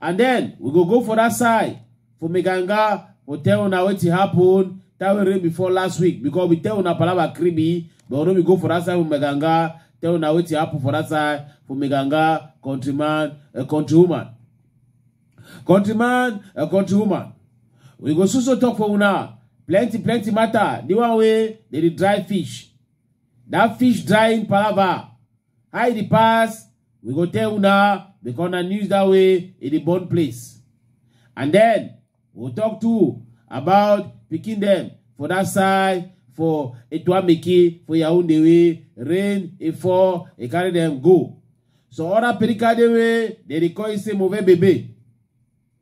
and then we go go for that side for meganga for tell una wetin happen that wey rain before last week because we tell una palava creamy but no be go for that side for meganga tell una wetin happen for that side for meganga countryman a countrywoman countryman a countrywoman we go so so talk for una plenty plenty matter the one wey dey dey dry fish that fish drying palava Hide the past, we go tell una because na news that way e dey burn place. And then we'll talk too about picking them for that side for Etuameki for Yaoundé way rain e fall e carry them go. So other Perika dey way they dey call it say move bebe.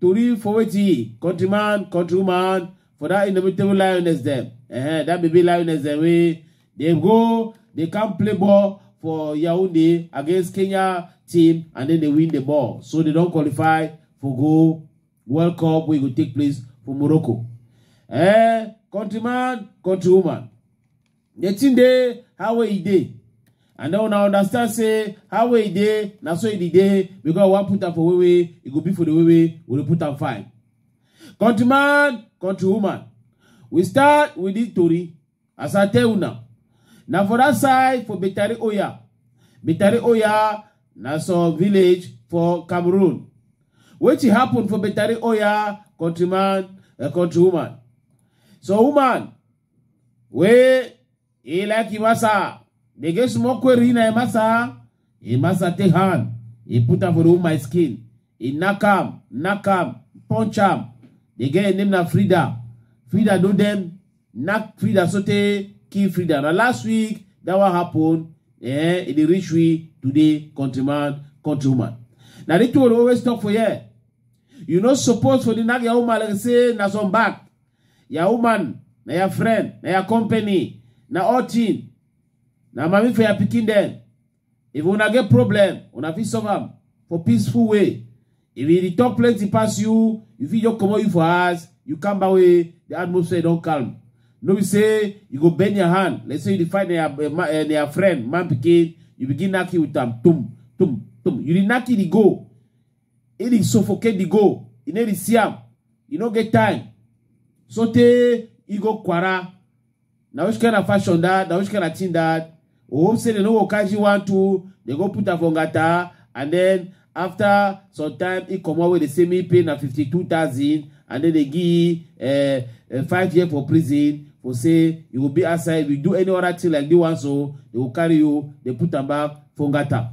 Tori for wetin countryman, countrywoman for that indomitable lioness dem. Uh-huh, that baby lioness dem wey dey go dey come play ball for Yaounde against Kenya team and then they win the ball. So they don qualify for go World Cup wey go take place for Morocco. Eh, countryman, countrywoman. The thing dey how e dey. And then una understand say how e dey na so e dey dey because we wan put am for way way e go be for the way way we dey put am fine. Countryman, countrywoman, we start with this tori as I tell una. Na for that side for Betari Oya. Betari Oya na some village for Cameroon. Wetin happen for Betari Oya countryman and countrywoman? Some woman we e la ki masa de ge smo ko ri na e masa e masa te han e puta for u my skin e nakam nakam punch am de ge name na frida frida do dem nak frida so te ki frida na last week that one happen eh e dey reach we today countryman countrywoman na the two always talk for here you no suppose for the nag your woman like say na some back ya woman na ya friend na ya company na all thing na mami for your pikin dem if una get problem una fit solve am for peaceful way if e dey talk plenty pass you you fit just comot you for house you come back wey the atmosphere don calm no be say you go bend your hand like say you dey fight na your eh, ma- eh, na your friend man pikin you begin knack you with am tum tum tum you dey knack you dey go He dey suffocate the goal. He no dey see am. He no get time. So tey he go kwara. Na which kind of fashion that? Na which kind of thing that? We hope say they no go catch you one two. They go put am for ngata and then after some time he comot wey dey say me pay na fifty two thousand and then they give uh, uh, five year for prison for say you go be outside if you do any other thing like this one so they go carry you they put am back for ngata.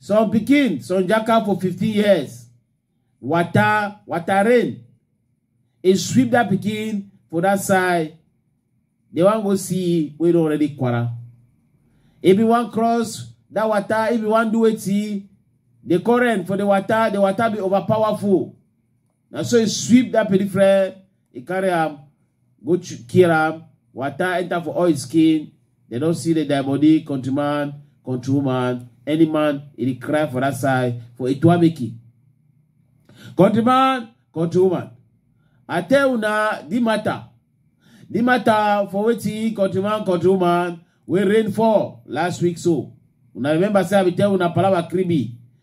some pikin some jaka for 15 years water water rain e sweep that pikin for that side they wan go see wey don already kwara if you wan cross that water if you wan do wetin the current for the water the water be overpowerful na so e sweep that peripheral e carry am go ch- kill am water enter for all his skin they don see the dead body country man country woman any man e dey cry for that side for etuameki country man country woman i tell una the matter the matter for wetin country man country woman wey rain fall last week so una remember say i bin tell una palava kribi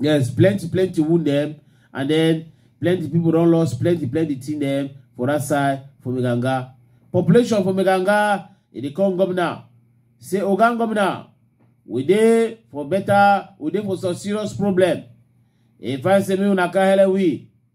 yes plenty plenty wound them, and then plenty people don't lost plenty plenty thing them for that side for meganga population for meganga e dey come governor say oga governor we dey for better we dey for some serious problem e find say make una carry we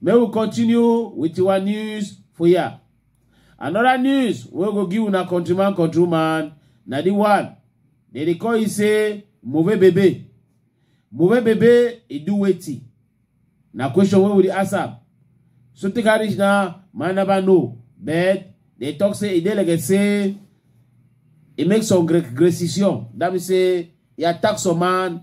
May we continue with our news for here. Another news wey go give una countryman countryman na the one dem dey call e say move bebe. Move bebe e do wetin? Na question wey we dey ask am. So take am reach now, man never know. But they talk say e dey like say e make some gre- gracision. That means say e attack some man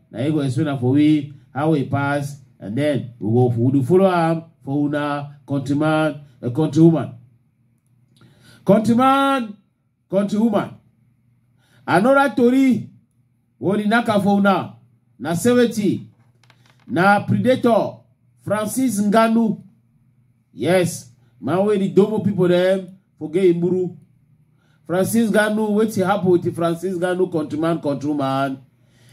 na him go explain am for we how e pass and then we go we do follow am for una countryman a countrywoman countryman countrywoman another tori wey dey knack am for una na seventy na predator francis ngannou Yes, man wey the Domo people dem forget Imburu. Francis Ganu, wetin happen with the Francis Ganu countryman, countryman?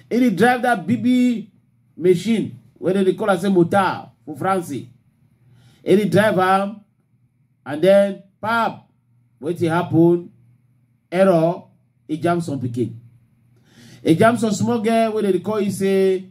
He dey drive that BB machine wey dem dey call am say motor for France. He dey drive am and then pap, wetin happen? Error, he jam some pikin. He jam some small girl wey dem dey call you say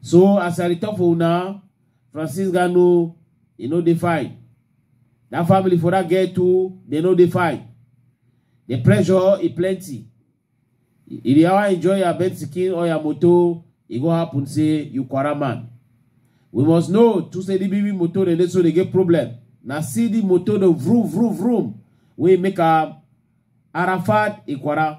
So as I dey talk for una, Francis Gano, e no dey fine. That family for that girl too, they no dey fine. The pressure e plenty. If you ever enjoy your bed skin or your motor, e go happen say you quarrel man. We must know to say the baby motor dey dey so dey get problem. Na see the motor dey vroom vroom vroom wey make am Arafat e quarrel.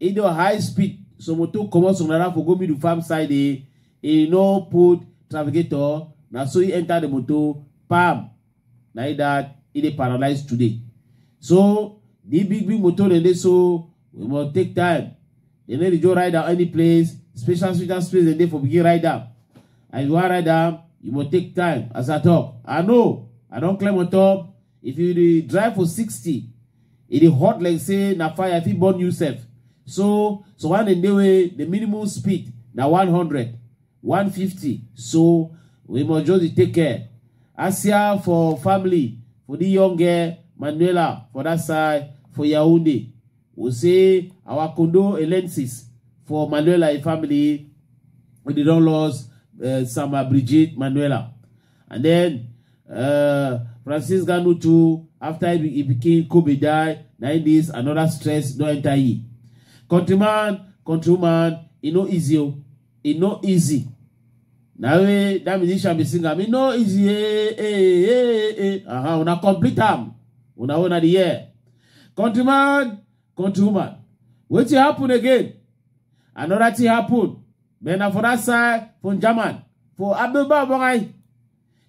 e don high speed so motor comot some naira for go middle farm side e e no put trafficator na so e enter the motor pam na e that e dey paralyze today so the big big motor dem dey so we must take time dem no dey just ride am any place special special space dem dey for begin ride am and if you wan ride am you must take time as i talk i know i don climb on top if you dey drive for sixty e dey hot like say na fire fit burn you sef so so one dem dey wey the minimum speed na 100 150 so we must just dey take care asia for family for the young girl manuela for that side for yaounde we say our condolences for manuela and family wey dey don lost uh, sama brigitte manuela And then uh, Francis Ganu too, after he, he became Kobe die, now it is another stress no enter ye. Countryman, countryman, e no easy o, oh. e no easy. Now eh, that musician be sing am, e no easy, eh, eh, eh, eh, eh. Uh-huh, una complete am, una una the year. Countryman, country woman wetin happen again another thing happen but na for that side for german for abeba bagai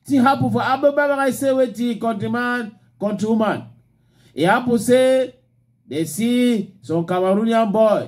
thing happen for abeba bagai say wetin country man country woman e happen say dey see some cameroonian boy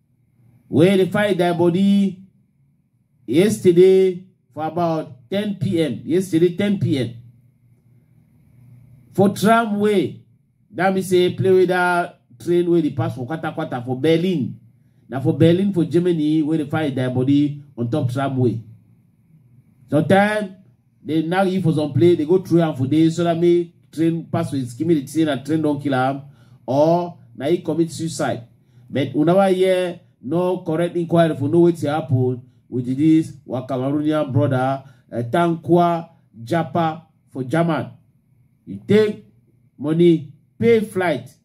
wey dey find their body yesterday for about 10 p.m. yesterday 10 p.m. for tramway that mean say play with that train wey dey pass for kwata kwata for berlin na for berlin for germany wey dey find their body on top tramway sometimes They now you for some play, they go through and for days so that me train pass with skin me the train and train don't kill him or now he commit suicide. But whenever hear no correct inquiry for no way to happen with this our Cameroonian brother uh, Tankwa Japa for German. You take money, pay flight,